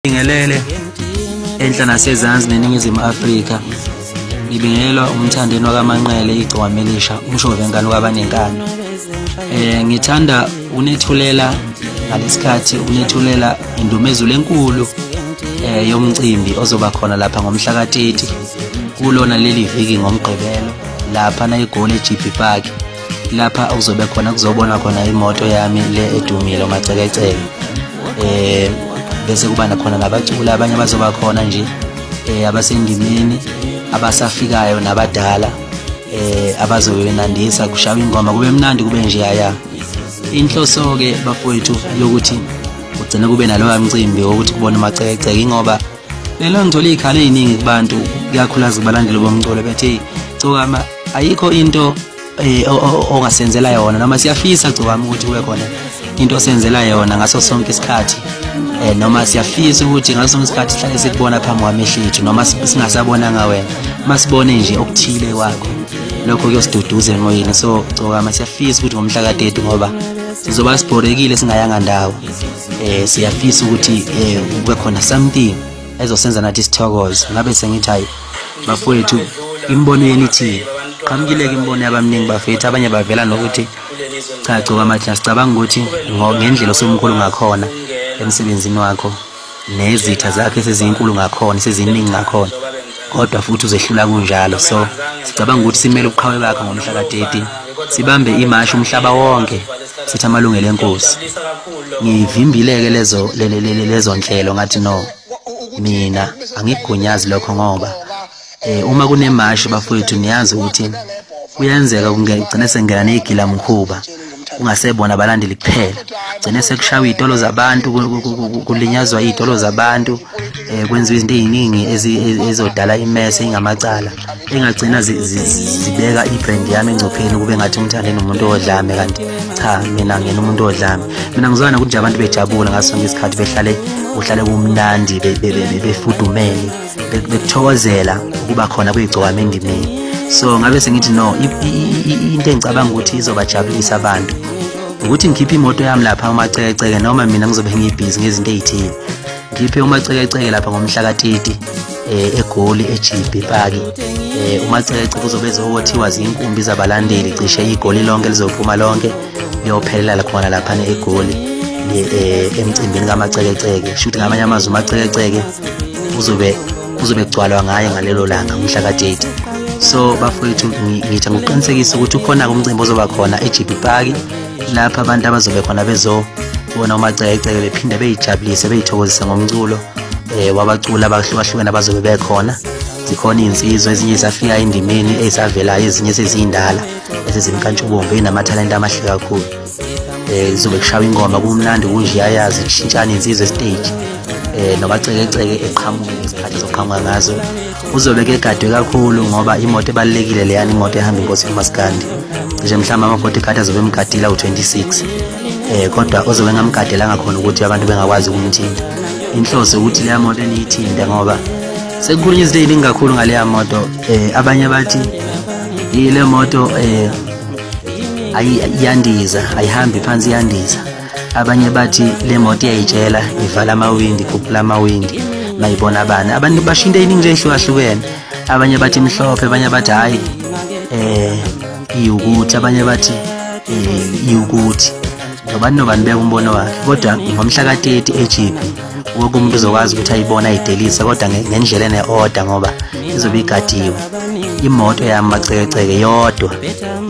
Ngibingelele enhla nasezansi neningizimu Afrika. Ngibingelelwa umthandeni wakaManqele igcwami elisha umshovengane wabanenkani. Eh ngithanda unethulela ngalesikhathi unethulela indumezulu enkulu eh yomcimbi ozoba khona lapha ngomhla ka-30 kulona leli viki ngomgqibelo lapha na egoli eGP Park lapha okuzobe khona kuzobonwa khona imoto yami le edumile umacekeceke eh bese kuba nakhona nabacula abanye abazoba khona nje eh abasendimeni abasafikayo nabadala eh abazobe benandisa kushawa ingoma kube mnandi kube nje yaya inhloso ke bafowethu yokuthi ugcine kube naloya mcimbi wokuthi kubona umacekeceke ingoba lelo ngicela iy'khala ey'ningi kubantu ikakhulukazi kubalandeli bomculo bethi cokama ayikho into eh, ongasenzela yona noma siyafisa cokama ukuthi kube khona into osenzela yona ngaso sonke isikhathi eh noma siyafisa ukuthi ngaso sonke isikhathi sihlale sikubona phambi kwamehlo ethu noma singasabona ngawena masibone nje okuthile kwakho lokho kuyosiduduza emoyeni so cokama siyafisa ukuthi ngomhla ka-30 ngoba sizoba sibhorekile singayanga ndawo eh siyafisa ukuthi eh kube khona something ezosenza nathi sithokoze ngabe sengithi hayi bafowethu imibono yenu ithini qhamukile-ke imibono yabamningi bafethu abanye bavela nokuthi cha gcoka amathina sicabanga ukuthi ngendlela osomkhulu ngakhona emsebenzini wakho nezitha zakhe sezinkulu ngakhona seziningi ngakhona kodwa futhi uzehlula kunjalo so sicabanga ukuthi simele ubuqhawe bakhe ngomhla ka-30 sibambe imashi umhlaba wonke sithi amalungelo enkosi ngivimbile-ke lezo lezo nhlelo ngathi no mina angigunyazi lokho ngoba um uma kunemashi bafowethu niyazi ukuthi kuyenzeka kugcine sengena neyigilamkhuba kungasebona abalandeli kuphela gcine sekushawa iy'tolo zabantu kulinyazwa iy'tolo zabantu um kwenziwa izinto ey'ningi ezodala imese ingamacala engagcina zibeka i-brand yami engcupheni ukube ngathi umthande nomuntu odlame kanti cha mina ngena umuntu odlame mina ngizwana ukuthi nje abantu bejabula ngaso sonke isikhathi behlale kuhlale kumnandi befudumele bekuthokozela ukuba khona kuyigcokama endimini so ngabe sengithi no into engicabanga ukuthi izobajabulisa abantu ukuthi ngikhiphe imoto yami lapha umacekeceke noma mina ngizobe ngiyibhizi ngezinto ey'thile ngikhiphe umacekeceke lapha ngomhla katiti um eh, egoli ejibhi ipaki um eh, umacekeceke uzobe ezowothiwa zinkumbi zabalandeli cishe igoli lonke lizophuma lonke liyophelela lakhona laphana egoli um emcimbini kamacekeceke shuthi ngamanye amazwi umacekeceke uzobe kuzobe kugcwalwa ngayo ngalelo langa umhla ka-30 so bafowethu ngitha ngokuqinisekisa ukuthi ukhona-ke umcimbi ozoba khona ejibi paki lapho abantu abazobe khona bezobona umacekeceke bephinde beyijabulise beyithokozise ngomculo um wabaculi abahlukahlukene abazobe bekhona zikhona iy'nsizwa ezinye ezafika endimeni ezavelayo ezinye seziyindala esezimkantshubomvu enamathalente amahle kakhulu eh izobe kushawa ingoma kumnandi kunje yayazi kushintshana insizwe stage eh nobacekeceke eqhamuke ngesikhathi zoqhamuka ngazo uzobe ke gadwe kakhulu ngoba imoto ebalekile leyani imoto ehamba inkosi uMaskandi nje mhlawumbe ama bodyguard azobe emgadila u26 eh kodwa ozobe ngamgadela ngakhona ukuthi abantu bengakwazi ukumthinta inhloso ukuthi leya moto eniyithinta ngoba sekukhulunywa izinto eziningi kakhulu ngaleya moto eh abanye bathi ile moto eh ayi iyandiza ayihambi phansi iyandiza abanye bathi le moto iyayitshela ivala amawindi ikhuphula amawindi mayibona abani abantu basho into eyiningi nje ehlukahlukene abanye bathi mhlophe abanye bathi hhayi um iwukuthi abanye bathi um iwukuthi nobani nobani beka umbono wakhe kodwa ngomhla ka-30 ejiphi wonke umuntu uzokwazi ukuthi ayibona ayidelise kodwa ngendlela ene-oda ngoba izobe igadiwe imoto yami macekeceke yodwa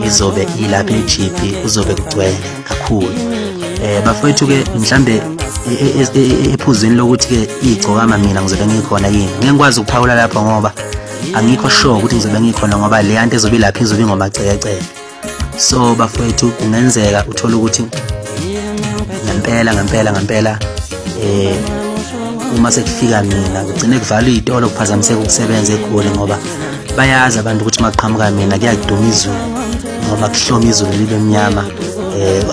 izobe ilapha e-gp kuzobe kugcwele kakhulu um bafowethu-ke mhlambe e, e, e, ephuzini lokuthi-ke igcokama mina ngizobe ngikhona yini ngeke ngikwazi ukuphawula lapho ngoba angikho sure ukuthi ngizobe ngikhona ngoba leya nto ezobe ilapha izobe ingomacekeceke so bafowethu kungenzeka uthole ukuthi ngempela ngempela ngempela eh uma sekufika mina kugcine kuvalwa iy'tolo kuphazamiseka ukusebenza egoli ngoba bayazi abantu ukuthi maqhamuka mina kuyakuduma izulu ngoba kuhloma izulu libe mnyama eh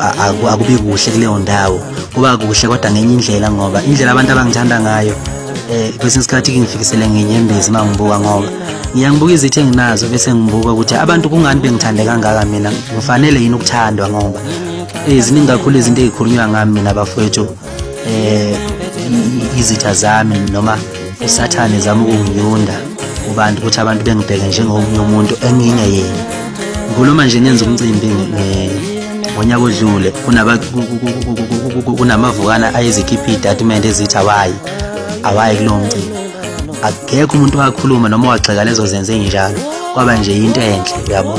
akubi kuhle kuleyo ndawo kuba kuhle kodwa ngenye indlela ngoba indlela abantu abangithanda ngayo eh kwesinye isikhathi ngifikisele ngenyembezi mangibuka ngoba ngiyangibuka izithe nginazo bese ngibuka ukuthi abantu kungani bengithande kangaka mina ngifanele yini ukuthandwa ngoba eziningi eh, kakhulu izinto ezikhulunywa ngami mina bafowethu eh izitha zami noma usathane zami ukunginyunda kubantu ukuthi abantu bengibheke njengomunye umuntu enginye yena ngikhuluma nje ngenza umcimbi ngonyaka odlule kunamavukana ayezikhipha iy'tatimende ezithi awayi awayi kulowo mcimbi akekho umuntu wakhuluma noma wagxeka lezo zenzo enjalo kwaba nje into enhle uyabo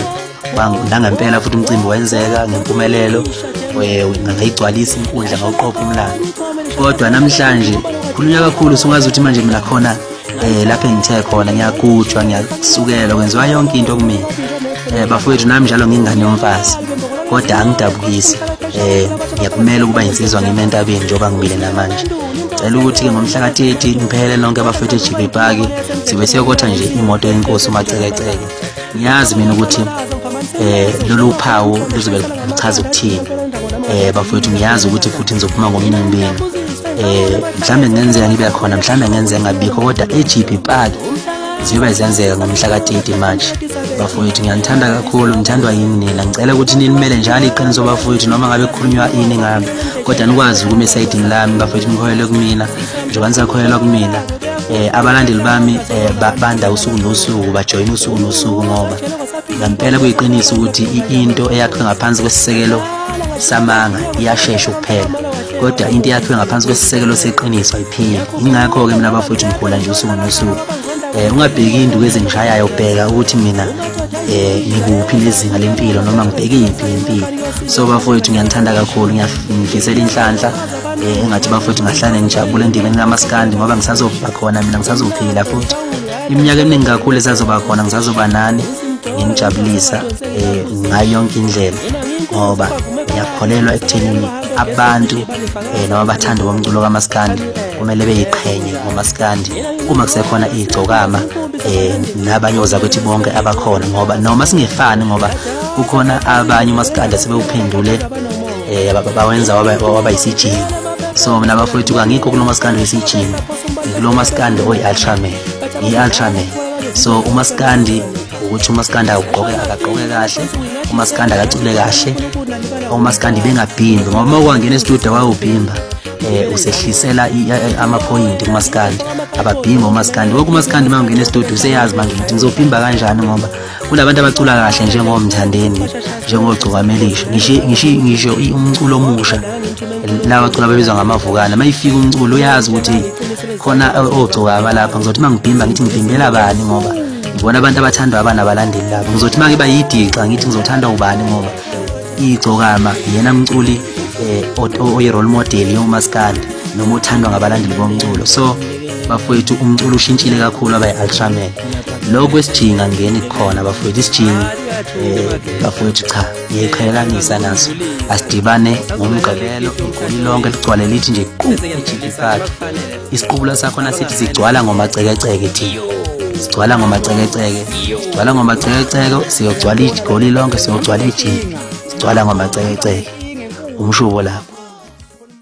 nangempela futhi umcimbi wenzeka ngempumelelo eh, ngayigcwalisa inkundla ngawuqopha umlando kodwa namhlanje khulunywa kakhulu sungazi ukuthi manje mina khona um lapho engithe khona ngiyagujwa ngiyasukelwa kwenziwa yonke into kumina um bafowethu nami njalo ngingane yomfazi kodwa angidabukisi um ngiyakumela ukuba yinsizwa ngime entabeni njengoba ngibile namanje cela ukuthi-ke ngomhla ka-13 niphelele nonke abafethu ejibe paki sibe siyokotha nje imoto yenkosi umacekeceke ngiyazi mina ukuthi eh lolu phawu luzobe luchaza ukuthini eh bafowethu ngiyazi ukuthi futhi nizophuma ngomnimbini eh mhlambe ngenzeka ngibe khona mhlambe ngenzeka ngabikho kodwa eGP Park ziyobe zenzeka ngomhla ka-30 march bafowethu ngiyanithanda kakhulu ngithandwa yini nina ngicela ukuthi nilimele njalo iqiniso bafowethu noma ngabe kukhulunywa ini ngami kodwa nikwazi ukuma esayidini lami bafowethu nikholelwe kumina njengoba nisakholelwa kumina um abalandeli bami um babanda usuku nosuku bajoyina usuku nosuku ngoba ngampela kuyiqiniso ukuthi into eyakhiwe ngaphansi kwesisekelo samanga iyashesha ukuphela kodwa into yakhiwe ngaphansi kwesisekelo seqiniso ayiphili ingakho-ke mina bafowethu ngikhula nje usuku nosuku um eh, ungabheki induku ezingishayayo bheka ukuthi mina eh ngikuphi lezinga lempilo noma ngibheke imphi lempilo so bafowethu ngiyanithanda kakhulu ngiyafisela inhlanhla eh engathi bafowethu ngahlane ngijabule endimeni kamaskandi ngoba ngisazoba khona mina ngisazophila futhi iminyaka eminingi kakhulu esazoba khona ngisazoba nani nginijabulisa eh ngayo yonke indlela ngoba ngiyakholelwa ekuthenini abantu eh, noma abathandi bomculo kamaskandi kumele beyiqhenye ngomaskandi uma kusekhona igcokama eh nabanye ozakwethu bonke abakhona ngoba noma singefani ngoba kukhona abanye umaskandi sebewuphendule eh bawenza waba waba isijingo so mina bafowethu kangikho kulo maskandi wesijingo kulo maskandi oyi ultraman yi ultraman so umaskandi ukuthi umaskanda ugqoke akagqoke kahle umaskanda akacule kahle umaskanda ibengabhimbi ngoba uma ukwangena estudio wawubhimba um usehlisela amaphoyinti kumaskandi ababhimba umaskandi woke umaskandi uma ungena estudio useyazi manje ukuthi ngizobhimba kanjani ngoba kunabantu abacula kahle njengomthandeni njengogcukamelisho ngisho umculo omusha lawa cula babizwa ngamavukana uma ifika umculo uyazi ukuthi khona ogcokama lapha ngizothi uma ngibhimba ngithi ngibhimbela bani ngoba ngibona abantu abathandwa abana balandeli labo ngizothi make bayidixa ngithi ngizothandwa ubani ngoba igcokama yena mculi eh, oyi role model yomaskandi noma othandwa ngabalandeli bomculo so bafowethu umculo ushintshile kakhulu abayi ultraman lokho esijinga ngeni khona bafowethu isijingi eh, bafowethu cha ngiyiqhelelanisa naso asidibane ngomgqibelo igoli lonke ligcwale lithi nje qu ejikifakhe isiqubula sakho nasithi sigcwala ngomacekeceke thi sigcwala ngomacekeceke sigcwala ngomacekeceke siyogcwala igoli lonke siyogcwala ejini sigcwala ngomacekeceke umshubo lapho